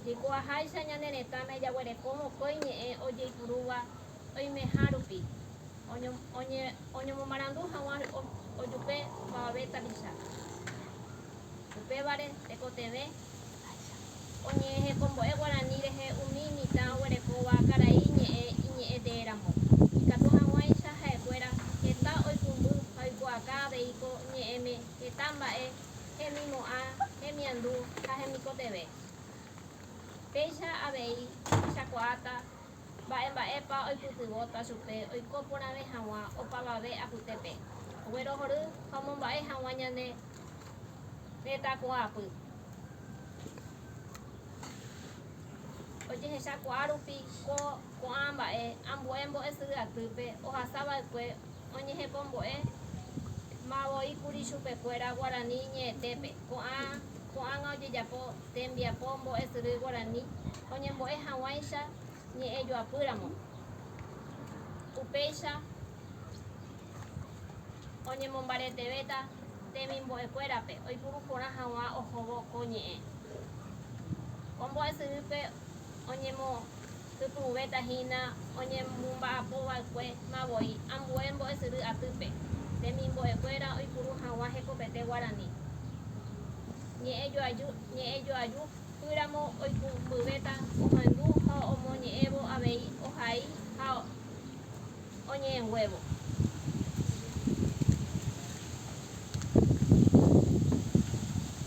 Ndiko'aháicha ñane retãme jaguereko mokõi ñe'ẽ ojeipurúva oimeha rupi, oñomomarandu haguã ojupe opavave tapicha. Upévare, tekotevẽ oñe'ẽhekombo'e guarani rehe umi mitã oguerekóva karai ñe'ẽ iñe'ẽ tee ramo, ikatu haguãicha ha'ekuéra heta oipumby ha oikuaaka aveiko ñe'ẽme heta mba'e hemimo'ã, hemiandu ha hemikotevẽ. Péicha avei ohechakuaáta mba'e mba'épa oipytyvõta chupe oiko porãve hag̃ua opavave apytépe, oguerohory ha omomba'e hag̃ua ñane retãkuaapy. Ojehechakuaa rupi ko ko'ã mba'e ambue mbo'esyry atýpe ohasa va'ekue, oñehepombo'e ma voi kuri chupekuéra guarani ñe'ẽtépe ko'ã ko'ág̃a ojejapo tembiapo mbo'esyry guarani oñembo'e hag̃uáicha ñe'ẽjoapýramo, upéicha oñemombaretevéta temimbo'ekuérape oipuru porã hag̃ua ohóvo ko ñe'ẽ ko mbo'esyrýpe. oñemokypũvéta hína oñemomba'apo va'ekue ma voi ambue mbo'esyry atýpe, temimbo'e kuéra oipuru haguã hekopete guarani, ñe'ẽ joaju, ñe'ẽ joaju pýramo oikũmbyvéta ohendu ha omoñe'ẽvo avei ohai ha. oñe'ẽnguévo.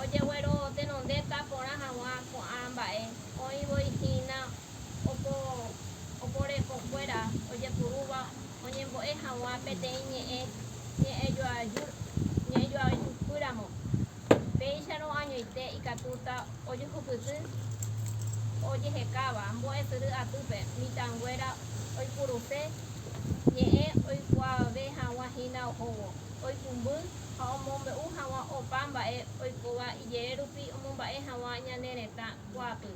Ojeguero tenondéta porã hag̃ua ko'ã mba'e oĩ voi hína opo oporekokuéra ojepurúva oñembo'e hag̃ua peteĩ ñe'ẽ ñe'ẽjoajúi ñe'ẽjoajúkyramo. Péicharõ añoite ikatúta ojuhupyty ojehekáva mbo'esyry atýpe mitãnguéra oipuruse ñe'ẽ oikuaave hag̃ua hína ohóvo, oipumby ha omombe'u hag̃ua opa mba'e oikóva ijehe rupi omomba'e hag̃ua ñane retã kuaapy.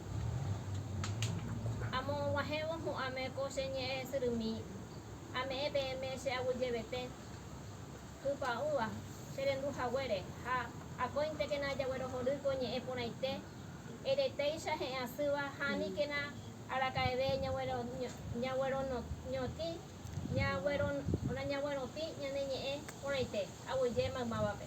Amoguãhévo hu'ãme ko che ñe'ẽ syrymí, ame'ẽ peẽme che aguyjevete. Tupãúva, che rendu haguére, ha akóintekena ajaguerohory ko ñe'ẽ porãite, eretéicha he'ẽ asýva ha aníkena araka'eve ñagueroñotĩ ñane ñe'ẽ porãite, aguyje maymávape.